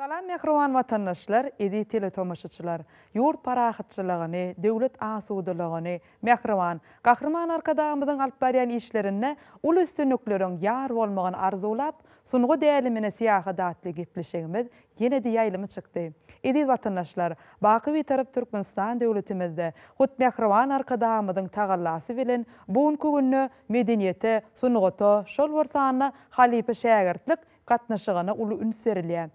Salam mähriban watandaşlar, eziz teletomaşaçylar! Ýurt parahatçylygyny, döwlet asudalygyny, mähriban Gahryman Arkadagymyzyň alyp barýan işlerinde uly üstünlikleriň ýar bolmagyny arzuwlap, sungat älemine syýahat atly gepleşigimiz ýene-de ýaýlyma çykdy. Eziz watandaşlar, baky Bitarap Türkmenistan döwletimizde hut mähriban Arkadagymyzyň tagallasy bilen bu günki günde medeniýete, sungata, şol bir sanda halypa-şägirtlik gatnaşygyna uly üns berilýär.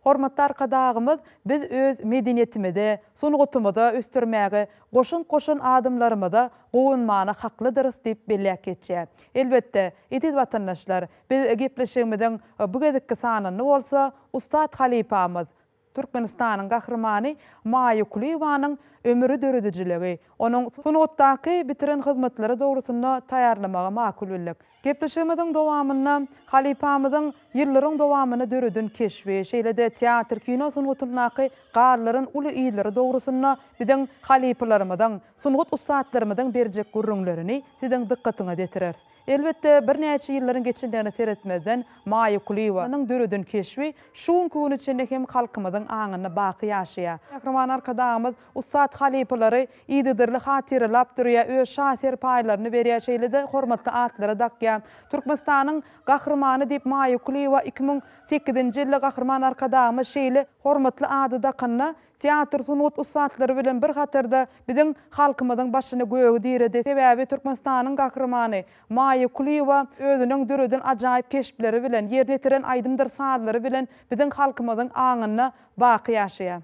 Hormatly Arkadagymyz biz öz medeniýetimizi, sungatymyzy ösdürmäge goşant goşan adamlarymyza guwanmaga haklydyrys diýip belläp geçýär. Elbetde, eziz watandaşlar, biz gepleşigimiziň bu gezekki sanynda bolsa ussat halypamyz, Türkmenistanyň Gahrymany Maýa Kulyýewanyň ömüri döredijiligi, onuň sungatdaky bitiren hyzmatlary dogrusynda taýýarlamagy makul bildik. Gepleşigimiziň dowamynda halypamyzyň ýyllaryň dowamynda döreden keşbi, şeýle-de teatr-kino sungatyndaky galdyran uly yzlary dogrusynda biziň halypalarymyzyň, sungat ussatlarymyzyň berjek gürrüňlerini siziň dykgatyňyza ýetireris. Elbetde, birnäçe ýyllaryň geçendigine seretmezden, Maýa Kulyýewanyň döreden keşbi şu günki güne çenli hem halkymyzyň aňynda baky ýaşaýar. Gahryman Arkadagymyz ussat halypalary yzygiderli hatyralap durýar, öz şa serpaýlaryny berýär, şeýle-de hormatly atlary dakýar. Türkmenistanyň Gahrymany diýip Maýa Kulyýewa iki müň sekizinji ýylda Gahryman Arkadagymyz şeýle hormatly ady dakanda, teatr sungat ussatlary bilen bir hatarda biziň halkymyzyň başyny göge diredi, sebäbi Türkmenistanyň Gahrymany Maýa Kulyýewa özüniň döreden ajaýyp keşpleri bilen, ýerine ýetiren aýdymdyr sazlary bilen biziň halkymyzyň aňynda baky ýaşaýar.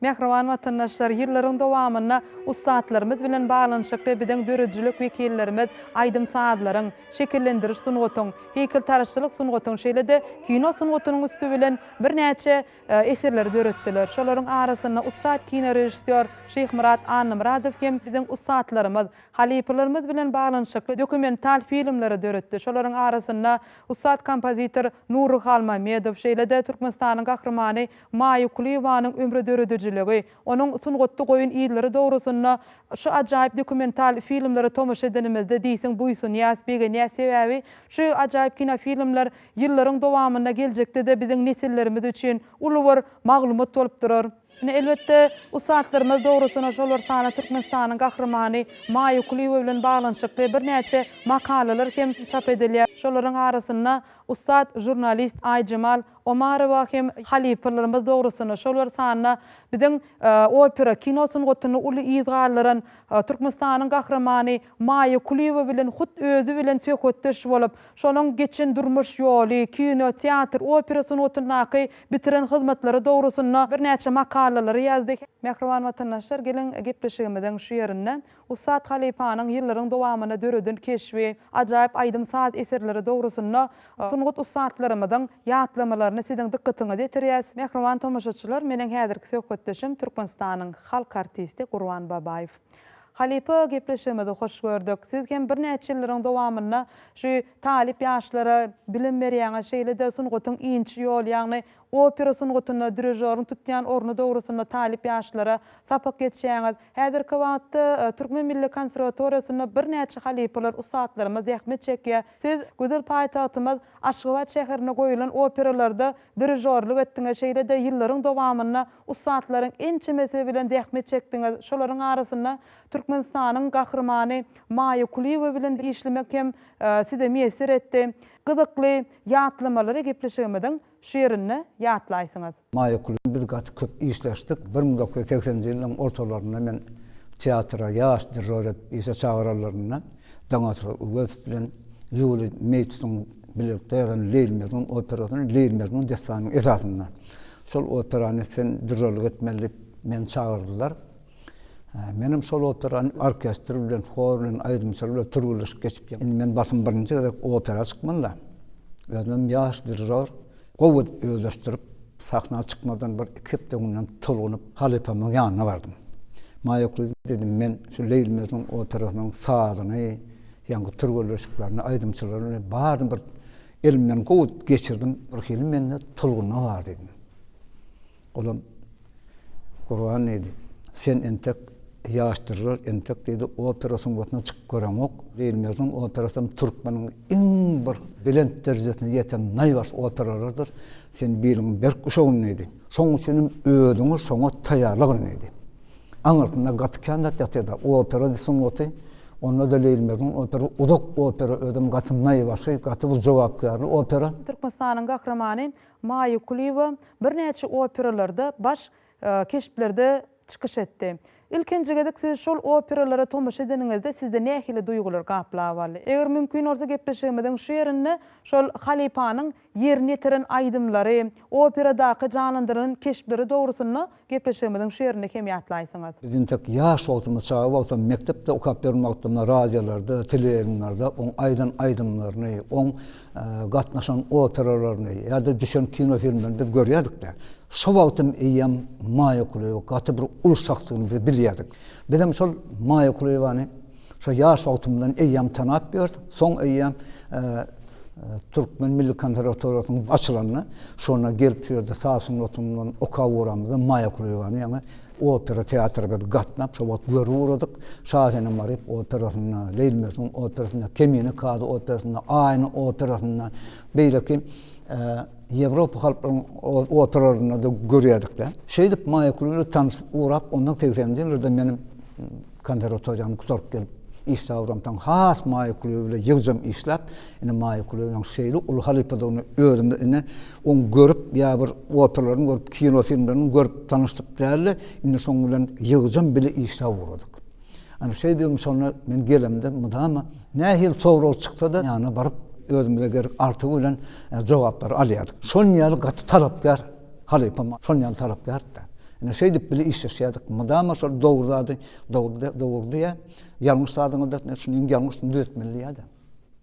Mähriban watandaşlar, ýyllaryň dowamynda ussatlarymyz bilen baglanyşykly biziň döredijilik wekillerimiz aýdym-sazlaryň, şekillendiriş sungatyň, heýkeltaraşçylyk sungatyň şeýle-de kino sungatynyň üsti bilen birnäçe eserleri döretdiler. Şolaryň arasynda ussat kinorežissýor Şyhmyrat Annamyradow hem biziň ussatlarymyz, halypalarymyz bilen baglanyşykly dokumental filmleri döretdi. Şolaryň arasynda Ussat kompozitor Nury Halmämmedow, şeýle-de Türkmenistanyň Gahrymany Maýa Kulyýewanyň ömri döredijiligi, onuň sungatda goýan yzlary dogrusynda şu ajaýyp dokumental filmlere tomaşa edenimizde diýseň buýsanýas, begenýäs sebäbi şu ajaýyp kinofilmler ýyllaryň dowamynda geljekde-de biziň nesillerimiz üçin uly bir maglumat bolup durar. Ine, elbetde, ussatlarymyz, dogrusy-na, şolar sany Türkmenistanyň Gahrymany Maýa Kulyýewa bilen baglanyşykly birnäçe makalalar hem çap edilýär. Şolaryň arasynda ussat žurnalist Aýjemal Omarowa hem halypalarymyz, dogrusy-na, şolar sany biziň opera kino sungatyny uly yz galdyran Türkmenistanyň Gahrymany Maýa Kulyýewa bilen hut özi bilen söhbetdeş bolup, şonuň geçen durmuş ýoly, kino, teatr, opera sungatyndaky bitiren hyzmatlary dogrusynda birnäçe makalalary ýazdy. Mähriban watandaşlar, geliň, gepleşigimiziň şu ýerinde ussat halypanyň ýyllaryň dowamynda döreden keşbi, ajaýyp aýdym-saz eserleri dogrusynda sungat ussatlarymyzyň ýatlamalaryny siziň dykgatyňyza ýetirýäs. Mähriban tomaşaçylar, meniň häzirki söhbetdeşim Türkmenistanyň halk artisti Gurban Babaýew. Halypa gepleşigimizi hoş gördük. Siz hem birnäçe ýyllaryň dowamynda şu talyp ýaşlara bilim berýäňiz, şeýle-de sungatyň inçe ýoly, ýagny opera sungatynda dirižoryň tutýan orny dogrusynda talyp ýaşlara sapak geçýäňiz. Häzirki wagtda Türkmen milli konserwatoriýasynda birnäçe halypalar, ussatlarymyz zähmet çekýär. Siz gözel paýtagtymyz Aşgabat şäherinde goýulan operalarda dirižorlyk etdiňiz, şeýle-de ýyllaryň dowamynda ussatlaryň ençemesi bilen zähmet çekdiňiz. Şolaryň arasynda Türkmenistanyň Gahrymany Maýa Kulyýewa bilen işlemek hem Size miýesser etdi. Gyzykly ýatlamalary gepleşigimiziň şu ýerinde ýatlaýsyňyz. Maýa Kul bilen biz gaty köp işleşdik. Bir müň dokuz ýüz segseninji ýyllaryň ortalarynda men teatra ýaş dirror edip işe çagyranlarynda Daňatar Öwezow bilen Ýuliý Meýtsuň bilelikde ýazan Leýli Mejnun operasyny Leýli Mejnun dessanynyň esasynda şol operany sen dirrorlyk etmeli diýip meni çagyrdylar. Menem şol operan orkestr bilen, hor bilen, aýdymçylar bilen türgenleşik geçip ýör. Indi men basym birinji gezek opera çykmanda, özümem ýaş dirijor, gowy edip özleşdirip, sahna çykmadan bir iki hepde öňünden tolgunyp, halypamyň ýanyna bardym. Maýakly, diýdim, men şu Leýli Mejnun operasynyň sazyny, ýaňky türgenleşiklerini, aýdymçylaryny baryny bir elimden gowy geçirdim, birhili mende tolgunma bar, diýdim. Olam Gurban diýdi, sen entek ýaşdyrylar, entek diýdi, opera sungatyna çykyp göreňok. Diýilmezden operasam türkmeniň iň bir belent derejesine ýeten naýbaşy operalardyr. Sen biliňi berk guşagyn diýdi. Şonuň üçin hem özüňi şoňa taýýarlagyn diýdi. Aňyrsynda gaty kän zat ýatyr-da. Opera sungaty, onda-da Leýilmezden opera uzak opera, özem gaty naýbaşy, gaty bir jogapkärli opera. Türkmenistanyň Gahrymany. Maýa Kulyýewa birnäçe operalarda, baş keşplerde çykyş etdi. Ilkinji gezek siz şol operalara tomaşa edeniňizde sizde nähili duýgular gaplap aldy? Eger mümkin bolsa gepleşigimiziň şu ýerinde şol halypanyň ýerine ýetiren aýdymlary, operadaky janlandyrylan keşpleri dogrusynda Gepleşigimiziň şu ýerini kem ýatlaýsyňyz. Biz intek ýaş wagtymyz, çaga wagtam, mekdepde okap ýören wagtymda radiolarda, teleýaýlymlarda oň aýdan aýdymlaryny, oň gatnaşan operalaryny ýa-da düşen kinofilmlerini biz görýädik-de. Şo wagtam eýýäm Maýa Kulyýewa gaty bir uly şahsdygyny biz bilýädik. Bizem şol Maýa Kulyýewany Şo ýaş wagtymdan eýýäm tanap ýördüm. Soň eýýäm Türkmen milli konserwatoriýasynyň açylanda, şonda gelip şu ýerde saz sungatyndan okap ugramyzda Maýa Kulyýewany ýaňy opera teatry biz gatnap, şo wagt görüp ugradyk. Şasenem Maryýew operasynda, Leýli Mejnun operasynda, Kemine kazy operasynda, Aýna operasynda, beýleki Ýewropa halklarynyň operalarynda-da görýärdik-de. Şeýdip Maýa Kulyýewa tanyşyp ugrap, ondan segseninji ýyllarda meniň Konserwatoriýany gutaryp gelip, iş tabramsoň, has maýa kulübi bilen ýygjam işläp, indi maýa kulübiniň şeýle uly halypadygyny özümiz ine, oň görüp, ýa bir operalaryny görüp, kino filmlerini görüp tanyşdyk dälde, indi şoň bilen ýygjam bile işläp ugradyk. Ana, şeýdibem şonda men gelemde mydama nähili sorag çyksa-da, ýanyna baryp, özümize gerek artygy bilen jogaplary alýardyk. Şon ýaly gaty talapkär Halypam şol ýaly talaplärdi-de. Ine, şeýdip bile işleşýärdik. Mydama şol dogry zady dogry, dogry diýýär. Ýalňyş zadyňyzda etmeli, şuny iň ýalňyşyny düzetmeli diýýär-de.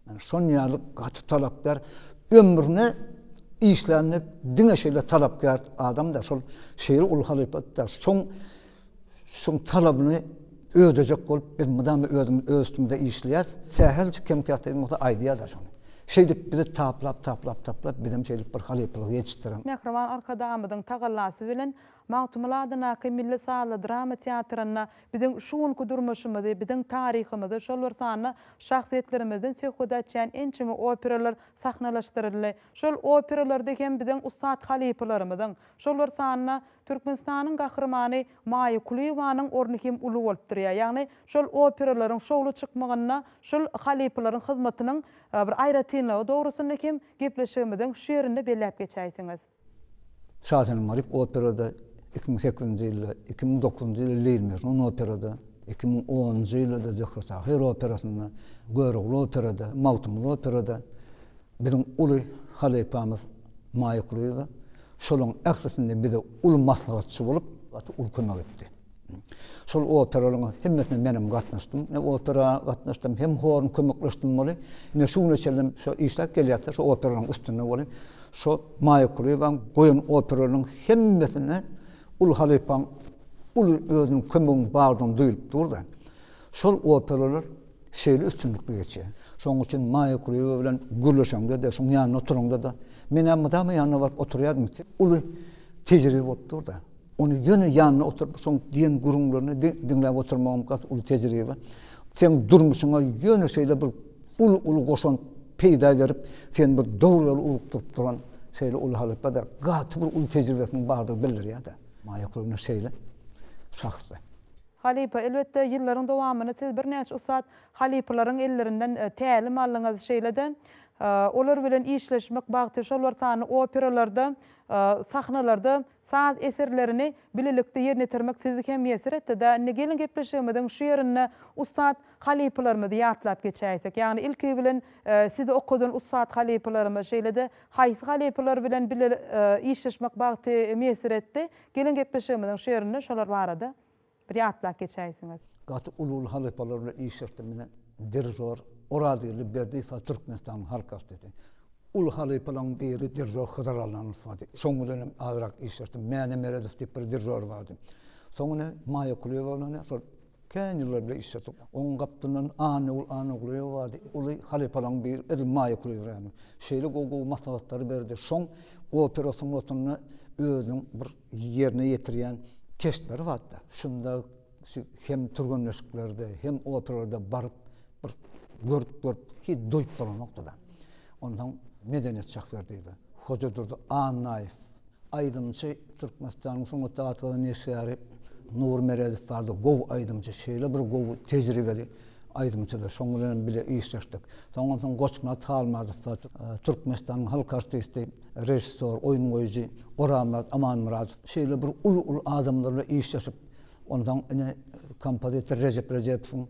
Ine, şon ýaly gaty talapkär, ömrüne işlände diňe şeýle talapkär adam-da, şol şeýle uly halypa-da, şoň Şuň talabyny ödejek bolup biz mydama özümiz öz üstümizde işleýäs. Sähelçik kemkätligim bolsa aýdýa-da şony. Şeýdip bizi taplap, taplap, taplap bizem şeýdip bir halypalygy ýetişdiren. Mähriban Arkadagymyzyň tagallasy bilen Magtymguly adyndaky milli sazly drama teatrynda biziň şu günki durmuşymyzy, biziň taryhymyzy, şol bir sanda şahsyýetlerimizden söhbet açýan ençeme operalar sahnalaşdyryldy. Şol operalarda hem biziň ussat halypalarymyzyň, Şolar sanynda Türkmenistanyň gahrymany Maýa Kulyýewanyň orny hem uly bolup durýar. Ýagny şol operalaryň şowly çykmagynda şul halypalaryň hyzmatynyň bir aýratynlygy dogrusynda hem gepleşigimiziň şu ýerinde belläp geçäýseňiz. Şasenem Maryp operada iki müň sekizinji ýylda, iki müň dokuzynjy ýylda Leýli Mejnun operada, iki müň onunjy ýylda-da Zöhre Tahyr operasynda, Görogly operada, Magtymguly operada biziň uly halypamyz, Maýa Kulyýewa şolaryň ählisinde bize uly maslahatçy bolup, gaty uly kömek etdi. Şol operalaryň hemmesine menem gatnaşdym. Ne opera gatnaşdym, hem horun kömekleşdim bolup. Ine şu güne çenli şo işläp gelýäs-de, şo operalaryň üstünde bolup. Şo Maýa Kulyýewaň goýan operalarynyň hemmesinde uly halypaň uly özüniň kömeginiň bardygyny duýulyp dur-da. Şol operalar şeýle üstünlikli geçýär. Şonuň üçin Maýa Kulyýewa bilen gürleşeňde-de, şonuň ýanynda oturaňda-da, men-ä mydama ýanyna baryp oturýardym, uly tejribe bolup dur-da. Ony ýöne ýanyna oturyp, şonuň diýen gürrüňlerini diňläp oturmagym gaty uly tejribe. Seň durmuşyňa ýöne şeýle bir uly-uly goşant peýda berip, seni bir dogry ýola ugrukdyryp duran şeýle uly halypa-da gaty bir uly tejribesiniň bardygy bildirýär-de. Maýa Kulyýewna şeýle şahsdy. Halypa, elbetde, ýyllaryň dowamynda siz birnäçe ussat halypalaryň ellerinden tälim aldyňyz, şeýle-de olar bilen işleşmek bagty, şol bir sany operalarda, sahnalarda saz eserlerini bilelikde ýerine ýetirmek sizi hem miýesser etdi-dä. Indi geliň gepleşigimiziň şu ýerinde ussat halypalarymyzy ýatlap geçäýsek. Ýagny ilki bilen sizi okadan ussat halypalarymyz, şeýle-de haýsy halypalar bilen bile işleşmek bagty miýesser etdi? Geliň gepleşigimiziň şu ýerinde şolar barada bir ýatlap geçäýsiňiz. Gaty uly-uly halypalar bilen işleşdim mine dirijor Orazgeldi Berdiýewa Türkmenistanyň halk artisti. Uly halypalaň biri dirijor Hydyr Allanow bardy. Şoň bilen hem azrak işleşdim. Mäne Meredow diýip bir dirijor bardy. Soň ine Maýa Kulyýewa bilen ine şol Kän ýyllar bile işledik. Onuň gapdalyndan Annagül Annagulýewa bardy. Uly halypalaryň biri, edil Maýa Kulyýewa. Şeýle gowy-gowy maslahatlary berdi. Şoň opera sungatynda özüniň bir ýerine ýetirýän keşpleri bardy. Şunda şu hem türgenleşiklerde, hem operalarda baryp, bir görüp-görüp, hiç doýup bolanokdy-da. Onsoň medeniýet şahsy berdi. Hoja Durdy Annaýew Aýdymçy Türkmenistanyň sungat atgyzy neşgäri Nury Meredow bardy. Gowy aýdymçy. Şeýle bir gowy tejribeli aýdymçydyr. Şoň bilen hem bile işleşdik. Soňam soň Goçmyrat Halmyradow bar. Türkmenistanyň halk artisti, režissýor, oýun goýujy Orazmyrat Amanmyradow. Şeýle bir uly uly adamlar bilen işleşip, onsoň ine kompozitor Rejep Rejepowyň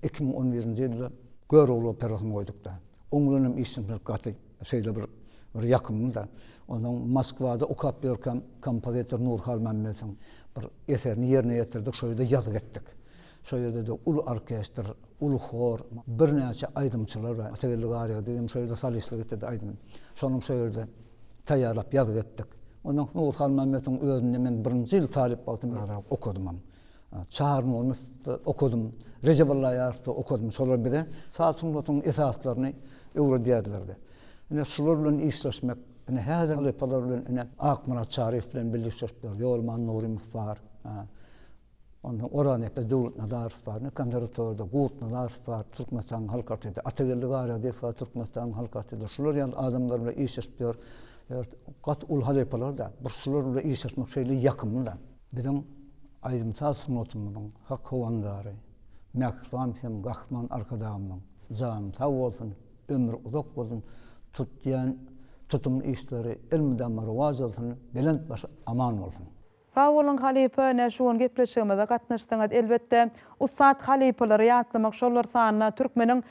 iki müň on birinji ýylda Görogly operasyny goýduk-da. Oň bilen hem işleşmek gaty. Şeýle bir bir ýakymly-da. Onuň Moskwada okap ýörkäm kompozitor Nur Halmämmedowyň bir eserini ýerine ýetirdik, şo ýerde ýazgy etdik. Şo ýerde-de uly orkestr, uly hor, birnäçe aýdymçylar bar. Atageldi Garýagdyýew hem şo ýerde solistlik etdi-de aýdym. Şonuň şo ýerde taýýarlap ýazgy etdik. Ondan soň Nur Halmämmedowyň özünde men birinji ýyl talyp wagtym barag okadymam. Çarnunowda okadym, Rejep Allaýarowda okadym, şolar bize saz sungatynyň esaslaryny öwredýärlerdi. Ine, şular bilen işleşmek, ine, häzir halypalar bilen, ine, Akmyrat Çaryýew bilen birlik işleşipdir, Ýolman Nurymow bar, ondan Oraznepe Döwletnazarow bar, indi konserwatoriýada Gurtnazarow bar, Türkmenistanyň halk artisti, Atageldi Garýagdyýew bar, Türkmenistanyň halk artisti, şular ýaly adamlar bilen işleşipdir. Gaty uly halypalar-da, bir şular bilen işleşmek şeýle ýakymly-da. Biziň aýdym-saz sungatymyzyň hak howandary, mähriban hem gahryman Arkadagymyzyň jany sag bolsun, ömri uzak bolsun, tutýan tutumly işleri elmydama rowaç alsyn, belent başy aman bolsun! Sag boluň halypa ine şu gün gepleşigimize gatnaşdyňyz elbetde ussat halypalary ýatlamak şollar sanyna türkmeniň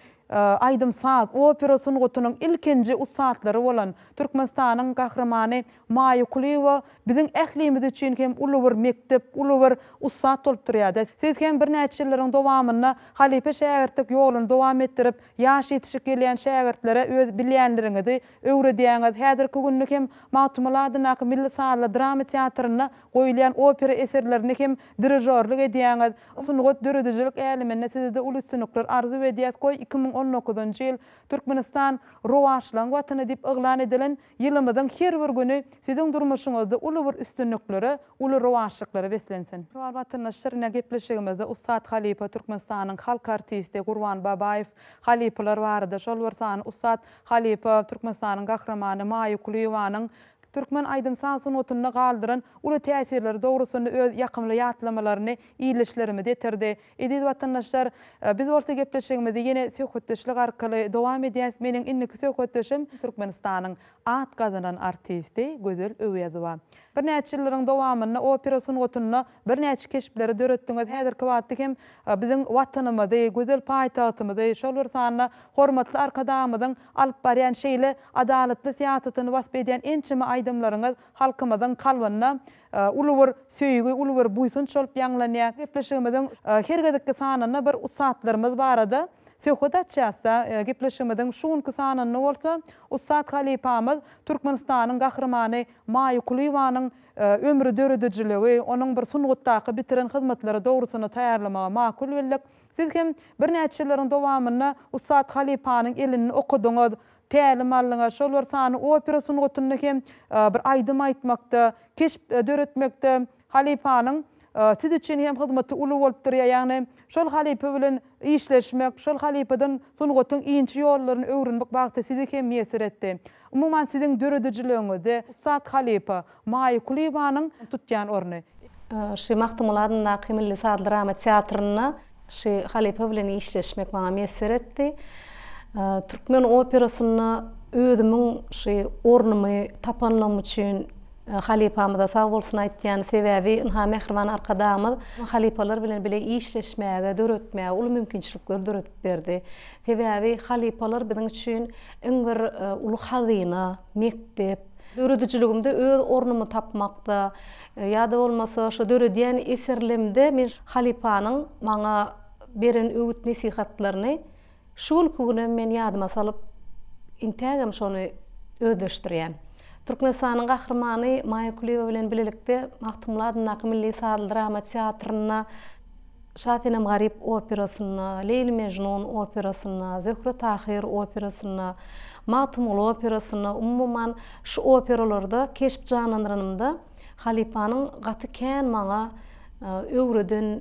aýdym saz opera sungatynyň ilkinji ussatlary bolan türkmenistanyň gahrymany Maýa Kulyýewa biziň ählimiz üçin hem uly bir mekdep, uly bir ussat bolup durýar-da. Siz hem birnäçe ýyllaryň dowamynda halypa-şägirtlik ýoluny dowam etdirip, ýaş ýetişip gelýän şägirtlere öz bilýänleriňizi öwredýäňiz. Häzirki günde hem Magtymguly adyndaky milli sazly drama teatrynda goýulýan opera eserlerine hem dirižorlyk edýäňiz. Sungat, döredijilik äleminde size-de uly üstünlikler arzuw edýäs. Goý, iki müň on dokuzynjy ýyl Türkmenistan Rowaçlygyň watany diýip yglan edilen Ýylymyzyň her bir güni siziň durmuşyňyzda uly bir üstünliklere, uly rowaçlyklara beslensin! Şu wagt Watandaşlarna gepleşigimizde ussat halypa Türkmenistanyň halk artisti Gurban Babaýew halypalar barada, şol bir sany ussat halypa Türkmenistanyň Gahrymany Maýa Kulyýewanyň türkmen aýdym-saz sungatynda galdyran uly täsirleri dogrusynda öz ýakymly ýatlamalaryny ildeşlerimize ýetirdi. Eziz watandaşlar, biz bolsa gepleşigimizi ýene söhbetdeşlik arkaly dowam edýäs. Meniň indiki söhbetdeşim Türkmenistanyň at gazanan artisti Gözel Öwezowa. Birnäçe ýyllaryň dowamynda opera sungatynda birnäçe keşpleri döretdiňiz. Häzirki wagtda hem biziň Watanymyzy, gözel paýtagtymyzy, şol bir sanda hormatly Arkadagymyzyň alyp barýan şeýle adalatly syýasatyny wasp edýän ençeme aýdymlaryňyz halkymyzyň kalbynda Uly bir söýgi, uly bir buýsanç bolup ýaňlanýar. Gepleşigimiziň her gezekki sanynda bir ussatlarymyz barada söhbet açýas-da, gepleşigimiziň şu günki sanynda bolsa ussat halypamyz, Türkmenistanyň Gahrymany Maýa Kulyýewanyň ömri, döredijiligi, onuň bir sungatdaky bitiren hyzmatlary dogrusynda taýýarlamagy makul bildik. Siz hem birnäçe ýyllaryň dowamynda ussat halypanyň elini okadyňyz, Tälim alnyňa, şol bir sany opera sungatynda hem bir aýdym aýtmakda, keşp döretmekde halypanyň siz üçin hem hyzmaty uly bolup durýar. Ýagny şol halypa bilen işleşmek, şol halypadan sungatyň inçe ýollaryny öwrenmek bagty sizi hem miýesser etdi. Umuman siziň döredijiligiňizde ussat halypa, Maýa Kulyýewanyň tutýan orny. Şy Magtymguly adyndaky milli saz-drama teatrynda Şy halypa bilen işleşmek maňa miýesser etdi. Türkmen operasynda özümiň şy ornumy tapanlygym üçin halypamyza sag bolsun aýtýan, sebäbi ynha mähriban Arkadagymyz halypalar bilen bile işleşmäge, döretmäge uly mümkinçilikleri döredip berdi. Sebäbi halypalar biziň üçin iň bir uly hazyna, mekdep. Döredijiligimde öz ornumy tapmakda ýa-da bolmasa şu döredýän eserlimde men halypanyň maňa beren öwüt-nesihatlaryny şu günki günem men ýadyma salyp, intägem şony özleşdirýän. Türkmenistanyň Gahrymany Maýa Kulyýewa bilen bilelikde Magtymguly adyndaky milli sazly drama teatrynda, Şasenem Garyp operasynda, Leýli-Mežnun operasynda, Zöhre-Tahyr operasynda, Magtymguly operasynda, umuman, şu operalarda keşp janlandyranymda halypanyň gaty kän maňa öwreden,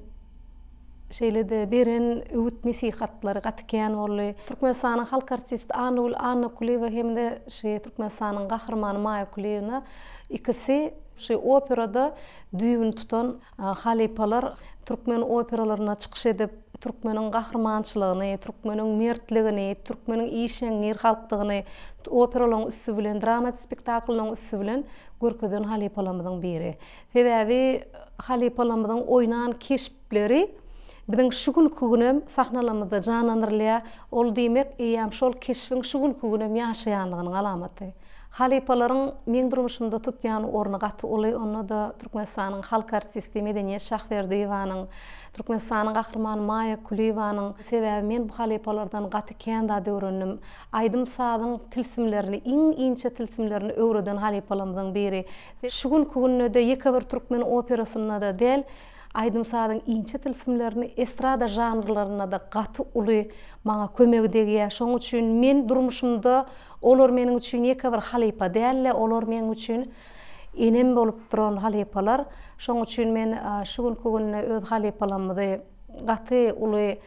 şeýle-de beren öwüt-nesihatlary gaty kän boldy. Türkmenistanyň halk artisti Annagül Annakulyýewa hem-de şu Türkmenistanyň Gahrymany Maýa Kulyýewna ikisi şu operada düýbüni tutan, Halypalar türkmen operalarynda çykyş edip, türkmeniň gahrymançylygyny, türkmeniň mertligini, türkmeniň işeňňir halkdygyny operalaryň üsti bilen, dramat spektakllaryň üsti bilen görkezen halypalarymyzyň biri. Sebäbi halypalarymyzyň oýnan keşpleri Biziň şu günki günem sahnalarymyzda janlanyrylýar, ol diýmek, eýýäm şol keşbiň şu günki günem ýaşaýanlygynyň alamaty. Halypalaryň meň durmuşymda tutýan orny gaty uly, onda-da Türkmenistanyň halk artisti Medeniýet Şahberdiýewanyň, Türkmenistanyň Gahrymany Maýa Kulyýewanyň, sebäbi men bu halypalardan gaty kän zat öwrendim. Aýdym-sazyň tilsimlerini, iň inçe tilsimlerini öwreden halypalarymyzyň biri. Şu günki günde-de ýeke bir türkmen operasynda-da däl, Aýdym-sazyň inçe tilsimlerini estrada žanrlarynda-da gaty uly maňa kömegi degýär. Şonuň üçin men durmuşymda olar meniň üçin ýeke bir halypa däl-de, olar meniň üçin enem bolup duran halypalar. Şonuň üçin men şu günki günde öz halypalarymyzy gaty uly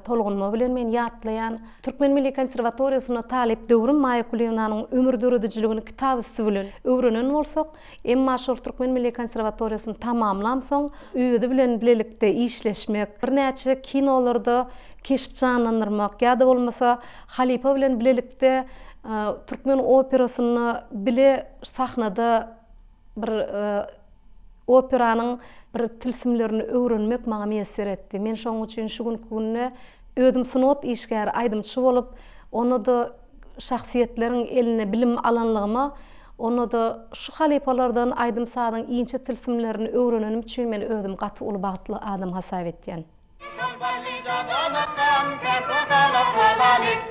tolgunma bilen men ýatlaýan. Türkmen milli konserwatoriýasynda talyp döwrüm Maýa Kulyýewnanyň ömür döredijiligini kitap üsti bilen öwrenen bolsak, Emma şol Türkmen milli konserwatoriýasyny tamamlamsoň, özi bilen bilelikde işleşmek, birnäçe kinolarda keşp janlandyrmak ýa-da bolmasa halypa bilen bilelikde türkmen operasynda bile sahnada bir operanyň bir tilsimlerini öwrenmek maňa miýesser etdi. Men şonuň üçin şu günki günde Özüm sungat işgäri, aýdymçy bolup, onda-da şahsyýetleriň elinde bilim alanlygyma, onda-da şu halypalardan aýdym-sazyň inçe tilsimlerini öwrenenim üçin men özümi gaty uly bagtly adam hasap etýän. Şampalyja damakdan, kärhojalyk halaly.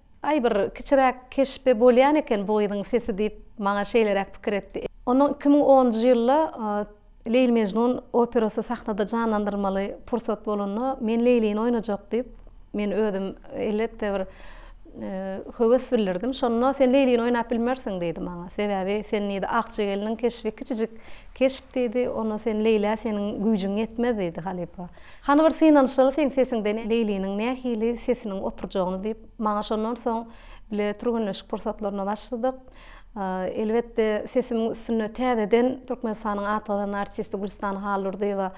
Aý, bir kiçiräk keşbi bolýan eken bu gyzyň sesi diýip, maňa şeýleräk pikir etdi. Ondan iki müň onunjy ýylda Leýli-Mejnun operasy sahnada janlandyrmaly pursat bolanda, Men Leýlini oýnajak diýip, men özüm, elbetde, bir höwes bildirdim. Şonda Sen Leýlini oýnap bilmersiň diýdi maňa. Sebäbi sen diýdi, Akja gelniň keşbi kiçijik keşp diýdi, onda sen Leýlä seniň güýjüň ýetmez diýdi halypa. Hany bir synanyşaly seň sesiňden Leýliniň nähili sesiniň oturjagyny diýip, maňa şondan soň bile türgenleşik pursatlaryna başladyk. Elbetde sesimiň üstünde täzeden Türkmenistanyň atgazan artisti Gülstan Hallurdyýewa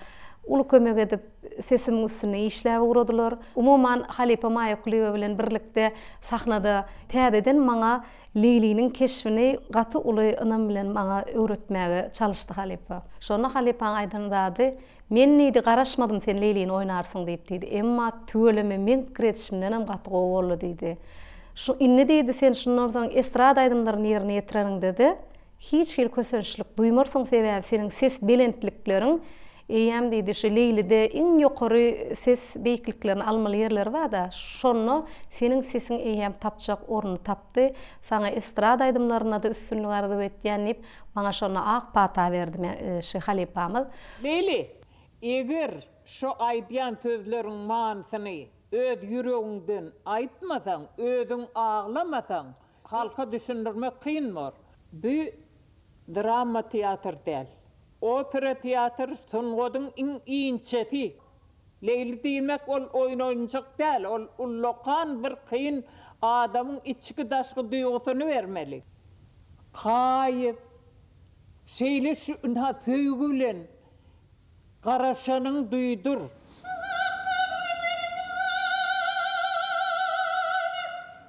uly kömek edip sesimiň üstünde işläp ugradylar. Umuman halypa Maýa Kulyýewa bilen birlikde sahnada täzeden maňa Leýliniň keşbini gaty uly ynam bilen maňa öwretmäge çalyşdy halypa. Şonda halypaň aýdan zady Men diýdi, garaşmadym sen Leýlini oýnarsyň diýip diýdi. Emma tüweleme meň pikir edişimdenem gaty gowy boldy diýdi. Şu indi diýdi sen şundan soň estrada aýdymlaryny ýerine ýetireniňdede hiç hili kösençlik duýmarsyň sebäbi seniň ses belentlikleriň eýýäm diýdi şu Leýlide iň ýokary ses beýikliklerini almaly ýerleri barda şonda seniň sesiň eýýäm tapjak ornuny tapdy. Saňa estrada aýdymlarynda-da üstünlik arzuw etýän diýip Maňa şonda ak pata berdi me şi halypamyz. Leyli, eger şu aýdýan sözleriň manysyny öz ýüregiňden aýtmasaň, özüň aglamasaň, halka düşündirmek kyn bor. Bu drama teatr däl. Opera teatr sungatyň iň inçesi. Leýli diýmek ol oýun oýunjak däl, ol ullakan bir kyn adamyň içki daşky duýgusyny bermeli. Haýyp. Şeýle şu ynha söýgi bilen garaşanyň duýdur. Şu hakda goý meniň haýyp.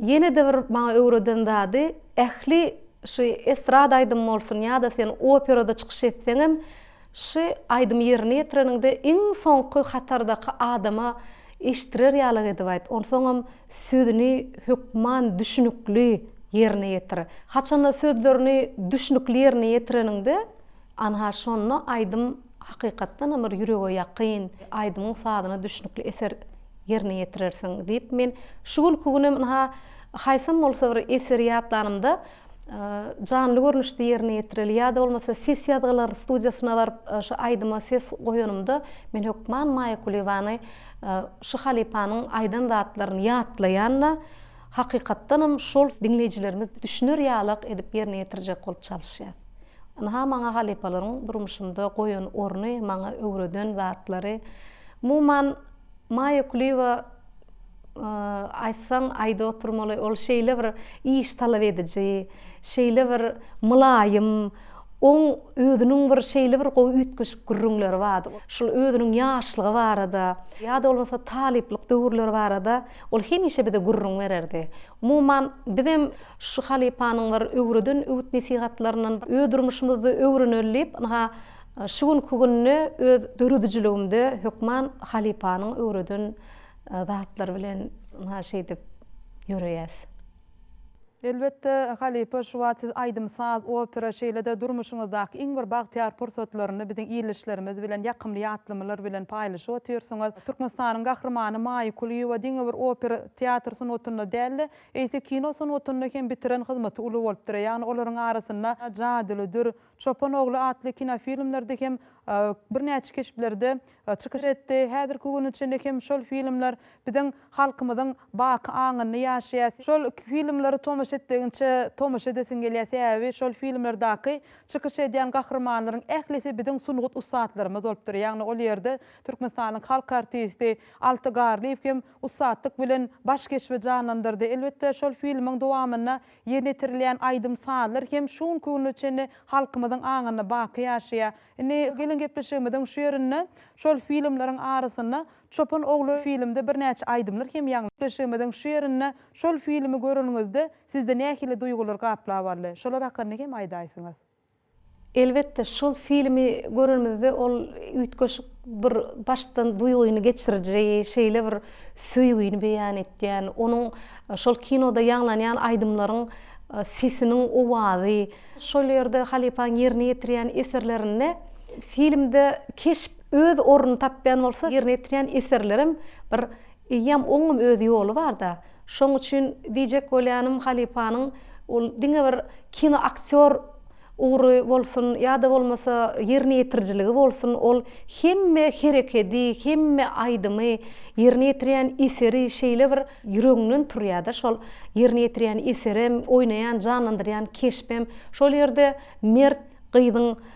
Ýene-de bir maňa öwreden zady, ähli şy estrada aýdymy bolsun ýa-da sen operada çykyş etseňem, şy aýdymy ýerine ýetireniňde iň soňky hatardaky adama eşitdirer ýalyk edip aýt, onsoňam sözüni hökman düşnükli ýerine ýetir. Haçanda sözlerini düşnükli ýerine ýetireniňde, anha şonda aýdym Hakykatdanam bir ýürege ýakyn, aýdymyň sazyna düşnükli eser ýerine ýetirersiň diýip, men şu günki günem ynha, haýsam bolsa bir eseri ýatlanymda, janly görnüşde ýerine ýetireli ýa-da bolmasa ses ýazgylar studiýasyna baryp, şu aýdyma ses goýanymda, men hökman Maýa Kuliýewany, şu halypanyň aýdan zatlaryny ýatlaýan-da, Hakykatdanam şol diňleýjilerimiz düşüner ýalak edip ýerine ýetirjek bolup çalyşýas. Ynha maňa halypalaryň durmuşymda goýan orny, maňa öwreden zatlary. Umuman Maýa Kulyýewa aýtsaň aýda oturmaly, ol şeýle bir iş talap ediji, şeýle bir mylaýym, oň özüniň bir şeýle bir gowy üýtgeşik gürrüňleri bardy. Şol özüniň ýaşlygy barada, ýa-da bolmasa talyplyk döwürleri barada Ol hemişe bize gürrüň bererdi. Umuman, bizem şu halypanyň bir öwreden öwüt-nesihatlaryndan öz durmuşymyzda öwreneli diýip, ynha, şu günki günde öz döredijiligimde hökman halypanyň öwreden zatlary bilen ynha şeýdip ýöreýäs. Elbetde, halypa Şubat siz aýdym, saz, opera, şeýle-de durmuşyňyzdaky iň bir bagtyýar pursatlaryny biziň ildeşlerimiz bilen ýakymly ýatlamalar bilen paýlaşyp otyrsyňyz. Türkmenistanyň Gahrymany Maýa Kulyýewa diňe bir opera, teatr sungatynda däl-de, eýse kino sungatynda hem bitiren hyzmaty uly bolupdyr. Ýagny olaryň arasynda jadylydyr, Çopan ogly atly kinofilmlerde hem birnäçe keşplerde çykyş etdi. Häzirki güne çenli hem şol filmler biziň halkymyzyň baky aňynda ýaşaýar. Şol filmleri tomaşa etdigiňçe tomaşa edesiň gelýär, sebäbi şol filmlerdaky çykyş edýän gahrymanlaryň ählisi biziň sungat ussatlarymyz bolupdyr. Ýagny ol ýerde Türkmenistanyň halk artisti Alty Garlyýew hem ussatlyk bilen baş keşbi janlandyrdy. Elbetde şol filmiň dowamynda Ýerine ýetirilýän aýdym-sazlar hem şu günki güne çenli halkymyzyň aňynda baky ýaşaýar. Indi geliň gepleşigimiziň şu ýerinde şol filmleriň arasynda Çopan ogly filmde birnäçe aýdymlar hem ýaňlandy. Gepleşigimiziň şu ýerinde şol filmi göreniňizde sizde nähili duýgular gaplap aldy? Şolar hakynda hem aýdaýsyňyz. Elbetde şol filmi görenimizde ol üýtgeşik bir başdan duýgyny geçiriji, şeýle bir söýgini beýan etýän, onuň şol kinoda ýaňlanýan aýdymlaryň sesiniň owazy, şol ýerde halypaň ýerine ýetirýän eserlerinde filmde keşp öz ornuny tapýan bolsa ýerine ýetirýän eserlerem bir Eýýäm oňňum öz ýoly barda. Şoň üçin diýjek bolýanym halypanyň ol diňe bir kino aktýor ugry bolsun ýa-da bolmasa ýerine ýetirijiligi bolsun ol hemme herekedi, hemme aýdymy, ýerine ýetirýän eseri şeýle bir ýüregiňden turýada şol ýerine ýetirýän eserem, oýnaýan, janlandyrýan keşbem şol ýerde mert gyzyň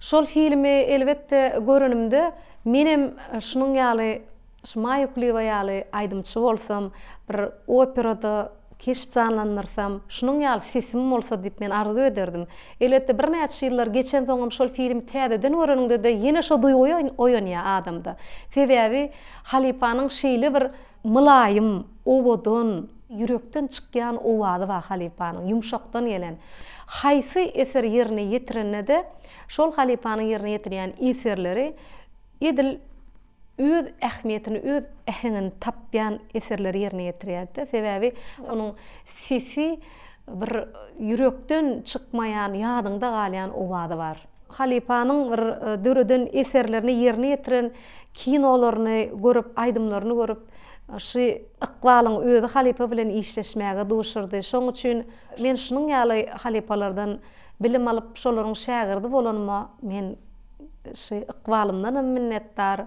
Şol filmi elbetde görenimde menem şunuň ýaly şu Maýa Kulyýewa ýaly aýdymçy bolsam, bir operada keşp janlandyrsam, şunuň ýaly sesim bolsa diýip men arzuw ederdim. Elbetde birnäçe ýyllar geçensoňam şol filmi täzeden göreniňde-de ýene şo duýgy oýanýar adamda. Sebäbi halypanyň şeýle bir. Mylaýym, owadan, ýürekden çykýan owazy bar halypanyň, ýumşakdan gelen. Haýsy eser ýerine ýetirende-de, şol halypanyň ýerine ýetirýän eserleri edil öz ähmiýetini, öz äheňini tapýan eserleri ýerine ýetirýärdi-de. Sebäbi onuň sesi bir ýürekden çykmaýan, ýadyňda galýan owazy bar. Halypanyň döreden eserlerini ýerine ýetiren kinolaryny görüp aýdymlaryny görüp şu ykbalyň özi halypa bilen işleşmäge duşurdy şoň üçin men şunuň ýaly halypalardan bilim alyp şolaryň şägirdi bolanyma men şu ykbalymdanam minnetdar.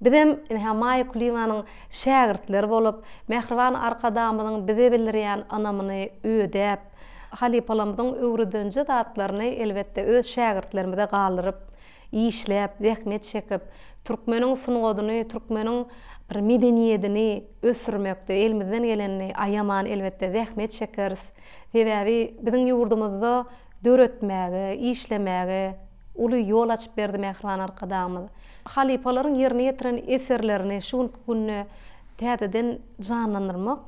Bizem ynha Maýa Kulyýewanyň şägirtleri bolup, mähriban Arkadagymyzyň bize bildirýän ynamyny ödäp, halypalarymyzyň öwredenje zatlaryny elbetde öz şägirtlerimize galdyryp, işläp, zähmet çekip, türkmeniň sungatyny, türkmeniň bir medeniýedini ösdürmekde elimizden gelenini aýaman, elbetde, zähmet çekeris. Sebäbi biziň ýurdumyzda döretmäge, işlemäge uly ýol açyp berdi Mähriban Arkadagymyz. Halypalaryň ýerine ýetiren eserlerini şu günki günde täzeden janlandyrmak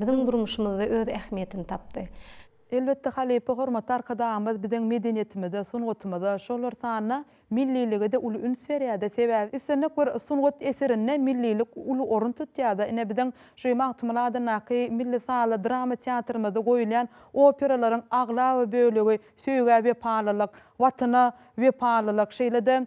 biziň durmuşymyzda öz ähmiýetini tapdy. Elbetde, halypa hormatly Arkadagymyz biziň medeniýetimize, sungatymyza, şolar sanyna millilige-de uly üns berýär-de. Sebäbi islendik bir sungat eserinde millilik uly orun tutýar-da. Ine, biziň şu Magtymguly adyndaky milli sazly drama teatrymyzda goýulýan operalaryň aglaba bölegi söýgä wepalylyk, Watana wepalylyk, şeýle-de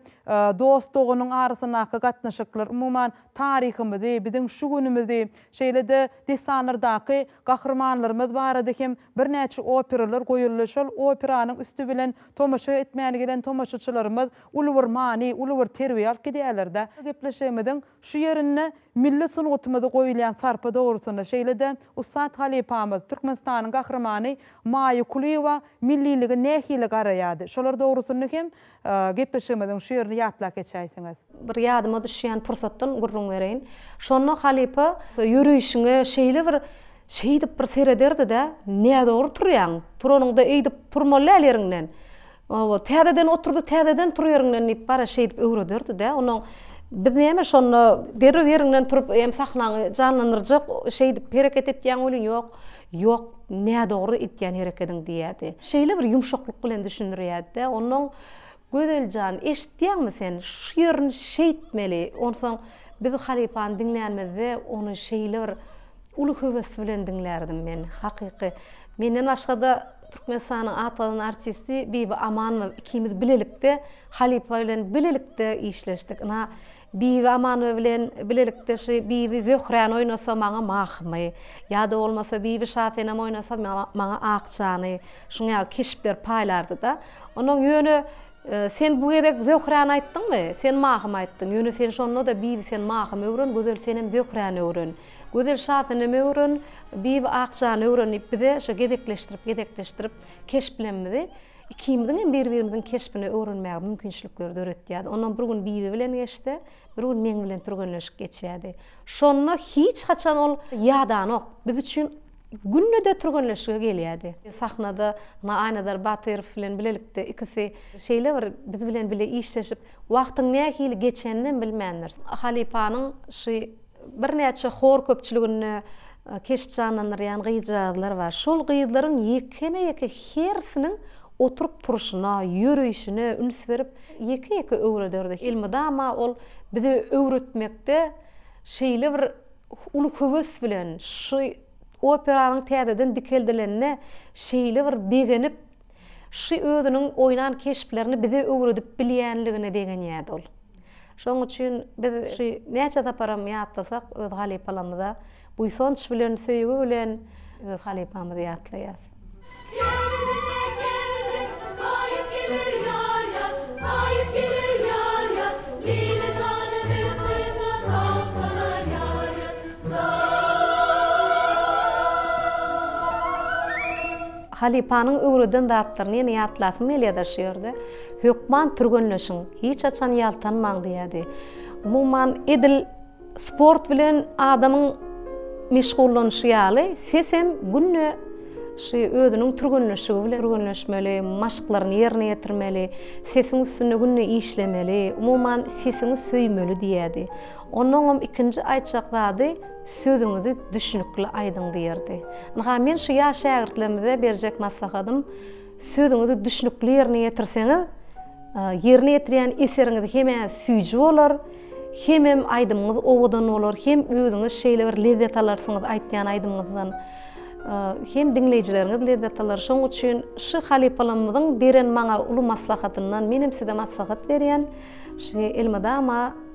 dost-doganyň arasyndaky gatnaşyklar, umuman, taryhymyzy, biziň şu günümizi, şeýle-de dessanlardaky Gahrymanlarymyz barada hem birnäçe operalar goýuldy, şol operanyň üsti bilen tomaşa etmäni gelen tomaşaçylarymyz uly bir many, uly bir terbiýe alyp gidýärler-dä. Gepleşigimiziň şu ýerinde milli sungatymyza goýulýan sarpa dogrusynda, şeýle-de ussat halypamyz, Türkmenistanyň Gahrymany Maýa Kulyýewa milliligi nähili garaýardy, şolar dogrusynda hem Gepleşigimiziň şu ýerini ýatlap geçäýseňiz. Bir ýadyma düşýän pursatdan gürrüň bereýin. Şonda halypa. Ýöreýşiňe şeýle bir şeýdip bir serederdi-de, Nädogry turýaň. Turanyňda eýdip turmaly däl ýeriňden. Hawa, täzeden oturdy, täzeden tur ýeriňden diýip bara şeýdip öwrederdi-de. Onnoň biz näme şonda derrew ýeriňden turup hem sahnany janlandyrjak şeýdip hereket etýäň welin ýok. Ýok, nädogry etýän herekediň diýýärdi. Şeýle bir ýumşaklyk bilen düşündirýärdi-de, onnoň, Gözel jan, eşitýäňmi sen, şu ýerini şeýtmeli, onsoň biz halypany diňlänimizde ony şeýle bir uly höwes bilen diňlärdim men. Hakyky. Menden başga-da Türkmenistanyň atgazan artisti Bibi Amanova ikimiz bilelikde halypa bilen bilelikde işleşdik. Ynha, Bibi Amanova bilen bilelikde şu Bibi Zöhräni oýnasa maňa Mahymy, ýa-da bolmasa Bibi Şasenem oýnasa maňa Akjany, şuň ýaly keşpler paýlardy-da. Onnoň ýöne Sen bu gezek Zöhräni aýtdyňmy? Sen Mahymy aýtdyň. Ýöne sen şonda-da Bibi sen Mahymy öwren, Gözel senem Zöhräni öwren. Gözel Şasenemi öwren, Bibi Akjany öwren diýip bize şo gezekleşdirip-gezekleşdirip keşplemzi. Ikimiziň hem bir-birimiziň keşbini öwrenmäge mümkinçilikleri döretýärdi. Ondan bir gün Bibi bilen geçse, bir gün meň bilen türgenleşik geçýärdi. Şonda hiç haçan ol ýadanok, biz üçin günde-de türgenleşige gelýärdi. Sahnada Aýnazar Batyrow bilen bilelikde ikisi şeýle bir biz bilen bile işleşip, Wagtyň nähili geçeninem bilmändiris. Halypanyň şy birnäçe hor köpçüliginde keşp janlandyrýan gyzjagazlar bar. Şol gyzlaryň ýekeme-ýeke hersiniň oturyp-turşuna, ýörüşine üns berip, ýeke-ýeke öwrederdi. Elmydama ol bize öwretmekde şeýle bir uly höwes bilen, şy operanyň täzeden dikeldilenine şeýle bir begenip, Şy özüniň oýnan keşplerini bize öwredip bilýänligine begenýärdi ol. Şonuň üçin biz Şy näçe saparam ýatlasak, öz halypalamyza buýsanç bilen, söýgi bilen öz halypamyzy ýatlaýarys. Kemidine, kemidine, haýyp geler ýar-ýa, haýyp geler ýar-ýa, Lile jana bir gyza gaýyp salar ýar-ýa, Jaýy. Halypanyň öwreden zatlaryny ýene ýatlasym gelýär-de şu ýerde. Hökman türgenleşiň, hiç haçan ýaltanmaň diýýärdi. Umuman, edil sport bilen adamyň meşgullanyşy ýaly, ses hem günde şu özüniň türgenleşigi bilen türgenleşmeli, maşklaryny ýerine ýetirmeli, sesiň üstünde günde işlemeli, umuman, sesiňi söýmeli diýýärdi. Onuňam ikinji aýtjak zady, Sözüňizi düşnükli aýdyň diýerdi. Ynha, men şu ýaş şägirtlerimize berjek maslahatym, sözüňizi düşnükli ýerine ýetirseňiz, ýerine ýetirýän eseriňiz hem-ä süýji bolar, hemem aýdymyňyz owadan bolar, hem özüňiz şeýle bir lezzet alarsyňyz aýtýan aýdymyňyzdan, hem diňleýjileriňiz lezzet alar. Şonuň üçin şu halypalarymyzyň beren maňa uly maslahatyndan menem size maslahat berýän, elmydama,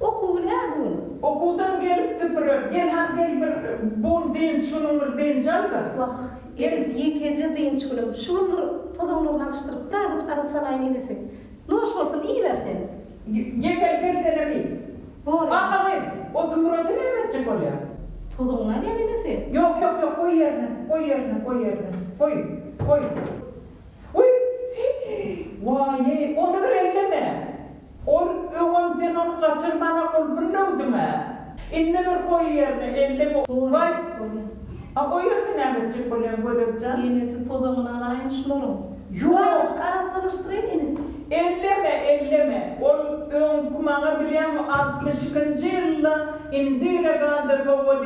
Okuw nä bun? Okuwdan gelip süpürer. Gel a, gel bir bun dynç günüň bir dynç al-da. Wah, enesi, ýekeje dynç günüm. Şu gün bir tozanlaryny alyşdyryp, birazajyk agyz salaýyn enesi. Noş bolsun, iýiber sen. Ýekeje gel senem iý. Bor indi. A-a gyz, o tümreti näme etjek bolýar? Tozugyny alýan enesi. Ýok, ýok, ýok, goý ýerine, goý ýerine, goý ýerine. Goý, goý. Wiý, hiý, waý-eý, ony bir elleme. Ol öňem sen ony gaçyrmana ol birlewdiňä. Indi bir goýy ýerine elli bu. Gowy bolýa. A o ýerine näme etjek bolýaň Gödekjan? Enesi tozagyny alaýyn şularyň. Ýok! Arassalaşdyraýyn ene. Elleme, elleme. Ol öňki maňa bilýäňmi altmyş ikinji ýylda indire ganda sowgat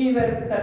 iberipdir.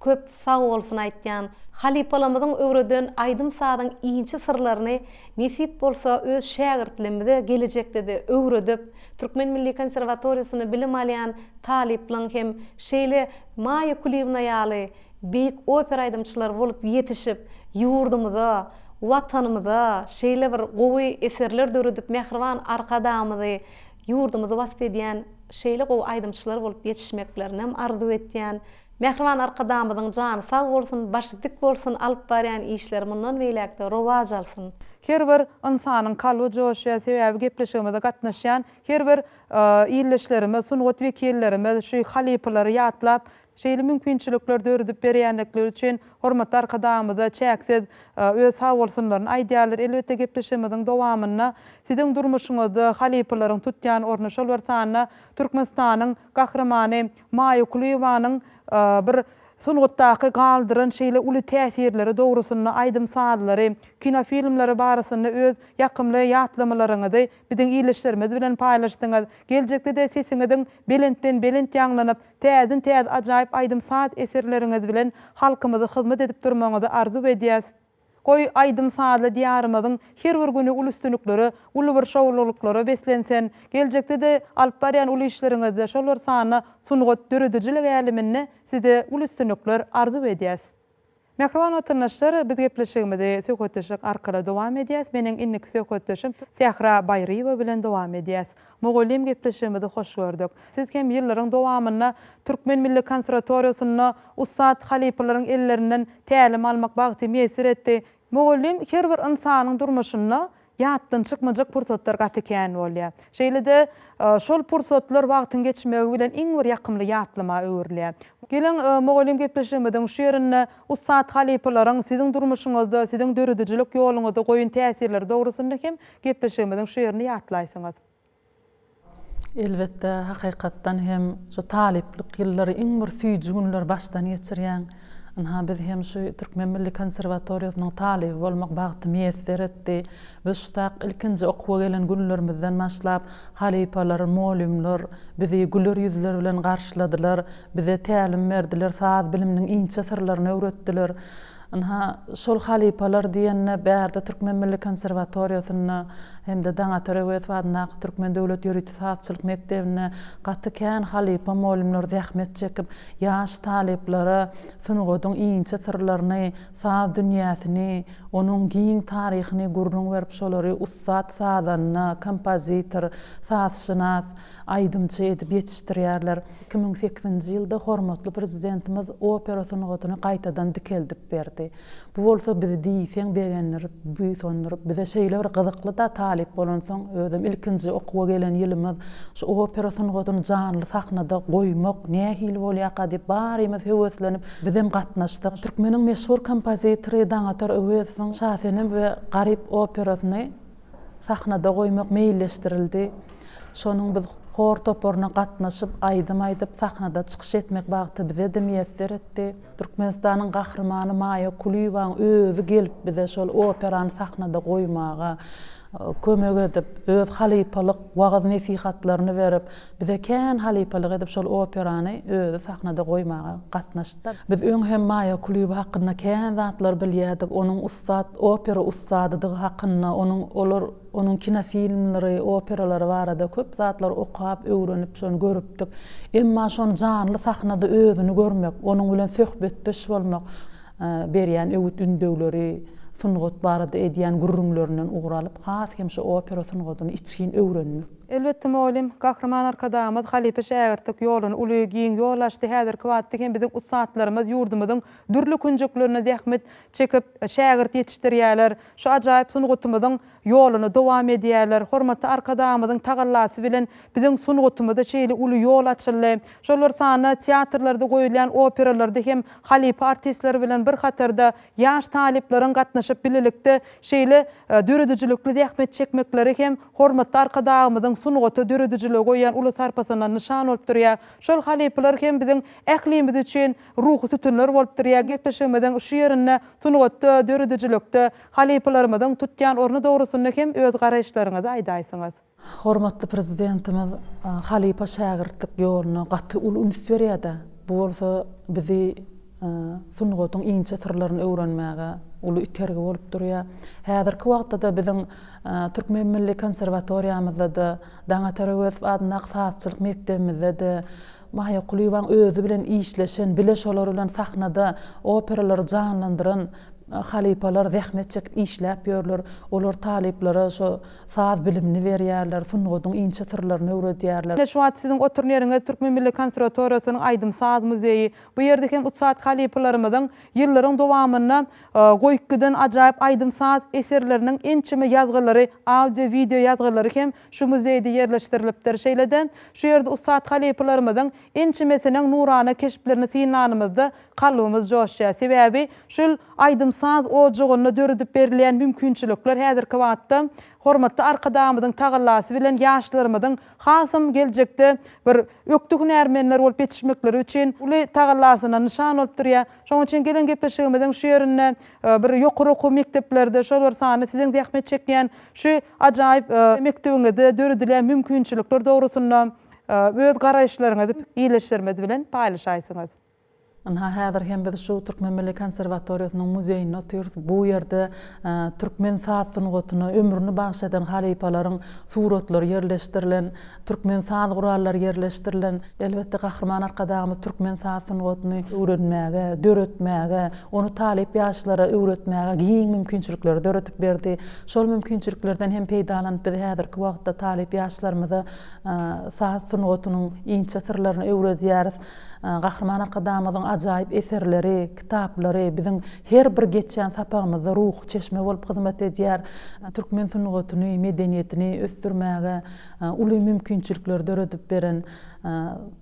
Köp sag bolsun aýtýan. Halypalamyzyň öwreden aýdym sazyň inçe syrlaryny nesip bolsa öz şägirtlimze gelejekdede öwredip Türkmen milli konserwatoriýasyny bilim alýan talyplaň hem şeýle Maýa Kuliýewna ýaly beýik opera aýdymçylary bolup ýetişip ýurdumyza Watanymyza şeýle bir gowy eserler döredip mähriban Arkadagymyzy ýurdumyzy wasp edýän şeýle gowy aýdymçylar bolup ýetişmeklerinem arzuw etýän. Mähriban Arkadagymyzyň jany sag bolsun, başy dik bolsun, alyp barýan işleri mundan beýläkde rowaç alsyn. Her bir ynsanyň kalby joşýar sebäbi gepleşigimize gatnaşýan her bir ildeşlerimiz sungat wekillerimiz şu halypalary ýatlap şeýle mümkinçilikler döredip berýändikleri üçin hormatly Arkadagymyza çäksiz öz sag bolsunlaryny aýdýarlar elbetde gepleşigimiziň dowamynda siziň durmuşyňyzda halypalaryň tutýan orny şol bir sanda Türkmenistanyň gahrymany Maýa Kulyýewanyň bir sungatdaky galdyran şeýle uly täsirleri dogrusynda aýdym-sazlary, kinofilmleri barasynda öz ýakymly ýatlamalaryňyzy biziň ildeşlerimiz bilen paýlaşdyňyz. Geljekde-de sesiňiziň belentden-belent ýaňlanyp, täzden-täze ajaýyp aýdym-saz eserleriňiz bilen halkymyza hyzmat edip durmagyňyzy arzuw edýäs. Goý, aýdym-sazly Diýarymyzyň her bir güni uly üstünliklere, uly bir şowlulyklara beslensin! Geljekde-de alyp barýan uly işleriňizde, şol bir sanda sungat, döredijilik äleminde size uly üstünlikler arzuw edýäs! Mähriban watandaşlar, biz gepleşigimizi söhbetdeşlik arkaly dowam edýäs. Meniň indiki söhbetdeşim Sähra Baýryýewa bilen dowam edýäs. Mugallym gepleşigimizi hoş gördük. Siz hem ýyllaryň dowamynda Türkmen milli konserwatoriýasynda ussat halypalaryň ellerinden tälim almak bagty miýesser etdi. Mugallym her bir ynsanyň durmuşynda ýatdan çykmajak pursatlar gaty kän bolýar. Şeýle-de şol pursatlar wagtyň geçmegi bilen iň bir ýakymly ýatlama öwrülýär. Geliň mugallym gepleşigimiziň şu ýerinde ussat halypalaryň siziň durmuşyňyzda, siziň döredijilik ýoluňyzda goýan täsirleri dogrusynda hem Gepleşigimiziň şu ýerini ýatlaýsyňyz. Elbetde, hakykatdan hem şu talyplyk ýyllary iň bir süýji günleri başdan geçirýäň. Ynha, biz hem şu Türkmen milli konserwatoriýasynyň talyby bolmak bagty miýesser etdi. Biz şu tak ilkinji okuwa gelen günlerimizden başlap, halypalar, mugallymlar bizi güler ýüzler bilen garşyladylar, bize tälim berdiler, saz biliminiň inçe syrlaryny öwretdiler. Ynha, şol halypalar diýende bärde Türkmen milli konserwatoriýasynda hem-de Daňatar Öwezow adyndaky Türkmen döwlet ýörite sazçylyk mekdebinde gaty kän halypa molymlar zähmet çekip, ýaş talyplara sungatyň inçe syrlaryny, saz dünýäsini, onuň giň taryhyny gürrüň berip, şolary ussat sazanda, kompozitor, sazşynas, aýdymçy edip ýetişdirýärler. Iki müň sekizinji ýylda hormatly Prezidentimiz opera sungatyny gaýtadan dikeldip berdi. Bu bolsa bizi diýseň begendirip, buýsandyryp, bize şeýle bir gyzykly-da, talyp bolansoň, özem ilkinji okuwa gelen ýylymyz, şu opera sungatyny janly sahnada goýmak nähili bolýarka diýip, barymyz höweslenip, bizem gatnaşdyk. Türkmeniň meşhur kompozitory Daňatar Öwezowyň Şasenem we Garyp operasyny sahnada goýmak meýilleşdirildi. Şonuň biz hor toparyna gatnaşyp, aýdym aýdyp, sahnada çykyş etmek bagty bize-de miýesser etdi. Türkmenistanyň Gahrymany Maýa Kulyýewanyň özi gelip bize şol operany sahnada goýmaga kömek edip, öz halypalyk wagyz-nesihatlaryny berip, bize kän halypalyk edip şol operany özi sahnada goýmaga gatnaşdy. Biz öň hem Maýa Kulyýewa hakynda kän zatlar bilýärdik, onuň ussat opera ussadydygy hakynda, onuň olar onuň kinofilmleri, operalary barada köp zatlary okap, öwrenip, şony görüpdik. Emma şony janly sahnada özüni görmek, onuň bilen söhbetdeş bolmak, berýän öwüt-ündewleri, sungat barada edýän gürrüňlerinden ugur alyp, has hem şu opera sungatyny içgin öwrendim. Elbetde mugallym, Gahryman Arkadagymyz halypa-şägirtlik ýoluny uly, giň ýol açdy, häzirki wagtda hem biziň ussatlarymyz ýurdumyzyň dürli künjeklerinde zähmet çekip, şägirt ýetişdirýärler, şu ajaýyp sungatymyzyň ýoluny dowam edýärler. Hormatly Arkadagymyzyň tagallasy bilen biziň sungatymyza şeýle uly ýol açyldy. Şolar sanda teatrlarda goýulýan operalarda hem halypa artistler bilen bir hatarda Ýaş talyplaryň gatnaşyp bilelikde şeýle döredijilikli zähmet çekmekleri hem hormatly Arkadagymyzyň sungata, döredijilige goýýan uly sarpasyna nyşan bolup durýar. Şol halypalar hem biziň ählimiz üçin ruhy sütünler bolup durýar. Gepleşigimiziň şu ýerinde sungatda, döredijilikde halypalarymyzyň tutýan orny dogrusynda hem öz garaýyşlaryňyzy aýdaýsyňyz. Hormatly Prezidentimiz halypa-şägirtlik ýoluna gaty uly üns berýär-de, bu bolsa bizi sungatyň inçe syrlaryny öwrenmäge uly itergi bolup durýar. Häzirki wagtda-da biziň Türkmen milli konserwatoriýamyzda-da, Daňatar Öwezow adyndaky sazçylyk mekdebimizde-de Maýa Kulyýewanyň özi bilen işleşen, bile şolar bilen sahnada operalary janlandyran halypalar zähmet çekip işläp ýörler. Olar talyplara şo Saz bilimini berýärler, sungatyň inçe syrlaryny öwredýärler. Ine, şu wagt siziň oturan ýeriňiz Türkmen milli konserwatoriýasynyň aýdym-saz muzeýi. Bu ýerde hem ussat halypalarymyzyň ýyllaryň dowamynda goýup giden ajaýyp aýdym-saz eserleriniň ençeme ýazgylary, audio-wideo ýazgylary hem şu muzeýde ýerleşdirilipdir. Şeýle-de, şu ýerde ussat halypalarymyzyň ençemesiniň nurana keşplerini synlanymyzda Kalbymyz joşýar, sebäbi şul aýdym-saz ojagynda döredip berilýän mümkinçilikler häzirki wagtda hormatly Arkadagymyzyň tagallasy bilen ýaşlarymyzyň hasam geljekde bir ökde hünärmenler bolup ýetişmekleri üçin uly tagallasyna nyşan bolup durýar. Şonuň üçin gelen gepleşigimiziň şu ýerinde bir ýokary okuw mekdeplerde, şol bir sanda siziň zähmet çekýän şu ajaýyp mekdebiňizde döredilýän mümkinçilikler dogrusynda öz garaýyşlaryňyzy ildeşlerimiz bilen paýlaşaýsaňyz. Ynha, häzir hem biz şu Türkmen milli konserwatoriýasynyň muzeýinde otyrys. Bu ýerde türkmen saz sungatyna ömrüni bagyş eden halypalaryň suratlary ýerleşdirilen, türkmen saz gurallary ýerleşdirilen. Elbetde, Gahryman Arkadagymyz türkmen saz sungatyny öwrenmäge, döretmäge, ony talyp ýaşlara öwretmäge giň mümkinçilikleri döredip berdi. Şol mümkinçiliklerden hem peýdalanyp, biz häzirki wagtda talyp ýaşlarymyza saz sungatynyň inçe syrlaryny öwredýäris. Gahryman Arkadagymyzyň ajaýyp eserleri, kitaplary biziň her bir geçýän sapagymyzda ruhy çeşme bolup hyzmat edýär. Türkmen sungatyny, medeniýetini ösdürmäge uly mümkinçilikleri döredip beren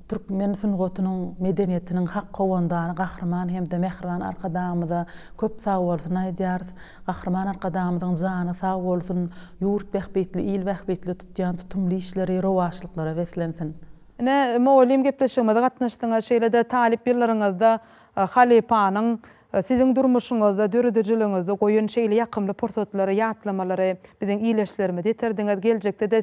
türkmen sungatynyň, medeniýetiniň hak howandary Gahryman hem-de mähriban Arkadagymyza köp sagbolsun aýdýarys. Gahryman Arkadagymyzyň jany sag bolsun, ýurt bähbitli, il bähbitli tutýan tutumly işleri rowaçlyklara beslensin! Ine, mugallym gepleşigimize gatnaşdyňyz, şeýle-de talyp ýyllaryňyzda halypanyň siziň durmuşyňyzda, döredijiligiňizde goýan şeýle ýakymly pursatlary, ýatlamalary biziň ildeşlerimize ýetirdiňiz. Geljekde-de.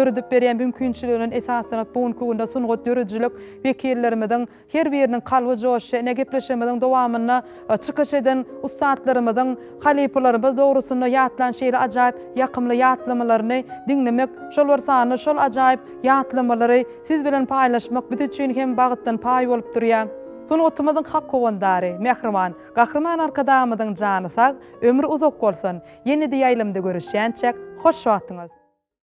döredip berýän mümkinçiligine esaslanyp, bu günki günde sungat döredijilik wekillerimiziň her biriniň kalby joşýar. Ine, gepleşigimiziň dowamynda çykyş eden ussatlarymyzyň halypalarymyz dogrusynda ýatlan şeýle ajaýyp ýakymly ýatlamalaryny diňlemek, şol bir sanda şol ajaýyp ýatlamalary siz bilen paýlaşmak biz üçin hem bagtdan paý bolup durýar. Sungatymyzyň hak howandary, mähriban Gahryman Arkadagymyzyň jany sag, ömri uzak bolsun! Ýene-de ýaýlamda görüşýänçäk, hoş wagtyňyz!